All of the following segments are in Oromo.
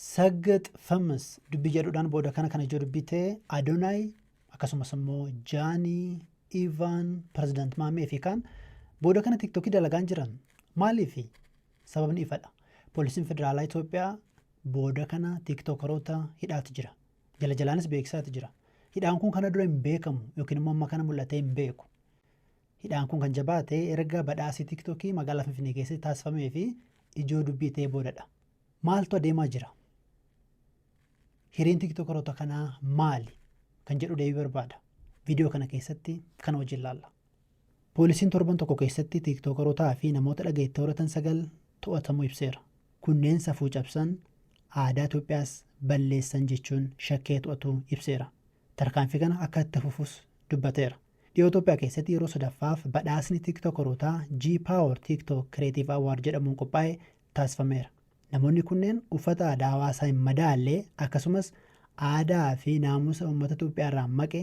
Saggax famous dubbii jedhuudhaan booda kana kan ijoo dubbii ta'e Adonaay akkasumas immoo Jaanii, Ivaan, Pirezidaant Maamee fi kaan booda kana tiktokii dalagaan jiran maaliifi? Sababni ifadha. Poolisiin Federaalaa Itoophiyaa booda kana tiktookaroota hidhaati jira. Jala jalaanis beeksisaati jira. Hidhaan kun kana dura hin beekamu yookiin immoo amma kana mul'atee hin beeku. Hidhaan kun kan jabaate erga badhaasii Tiktokii magaalaa Finfinnee keessatti taasifamee fi ijoo dubbii ta'ee boodadha. Maaltu adeemaa jira? Hireen Tiktokeroota kanaa maali? Kan jedhu deebii barbaada. Viidiyoo kana keessatti kana wajjin ilaalla. Poolisiin torban tokko keessatti Tiktokerootaa fi namoota dhagayetti horatan sagal to'atamuu ibseera. Kunneen safuu cabsan, aadaa Itoophiyaas balleessan jechuun shakkee to'atu ibseera. Tarkaanfii kana akka itti fufus dubbateera. Dhiyoo Itoophiyaa keessatti yeroo sadaffaaf badhaasni Tiktookarootaa G-Power TikTok Creative Award jedhamuun qophaa'e taasifameera. Namoonni kunneen uffata aadaa hawaasaa hin madaalle akkasumas aadaa fi naamusa uummata Itoophiyaa irraa maqe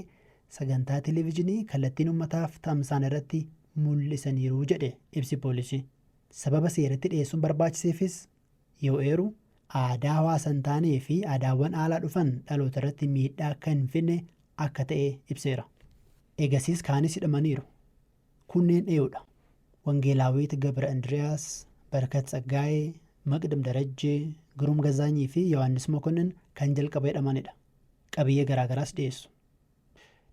sagantaa televijinii kallattiin uummataaf tamsa'an irratti mul'isaniiru jedhe ibsi poolisii. Sababa seeratti dhiyeessuun barbaachiseefis yoo eeru, aadaa hawaasa hin taanee fi aadaawwan aalaa dhufan dhaloota irratti miidhaa akka hin fidne akka ta'e ibseera. Egasiis kaanis hidhamaniiru. Kunneen eeudha? Wangeelaawit Gabra Indiriyaas, Barkat Tsaggaayee, Maqdam Darajjee, Giruum Gazaanyii fi Yohaannis Mokonnin kan jalqaba hidhamanidha. Qabiyyee garaagaraas dhiyeessu.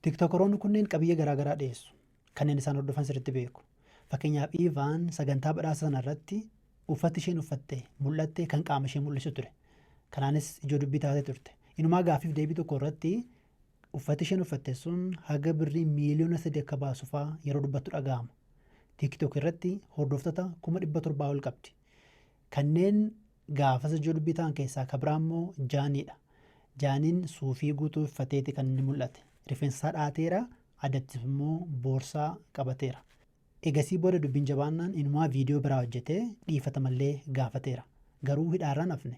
Tiktokoroonni kunneen qabiyyee garaagaraa dhiyeessu. Kanneen isaan hordofan sirriitti beeku. Fakkeenyaaf Iivaan sagantaa badhaasa sana irratti uffatti isheen uffatte mul'atte kan qaama ishee mul'isu ture. Kanaanis ijoo dubbii taatee turte. Inumaa gaaffiif deebii tokko irratti uffatti isheen uffatte sun haga birrii miiliyoona sadii akka baasu faa yeroo dubbattu dhaga'ama. TikTok irratti hordoftota kuma dhibba torbaa ol qabdi. Kanneen Gaafas jurbii ta'an keessaa ka biraa immoo Jaanii dha. Jaaniin suufii guutuu iffateeti kan inni mul'ate. Rifeensa isaa dha'ateera, adattis immoo boorsaa qabateera. Egasii booda dubbiin jabaannaan inumaa viidiyoo biraa hojjetee dhiifatama illee gaafateera. Garuu hidhaarraa hin hafne.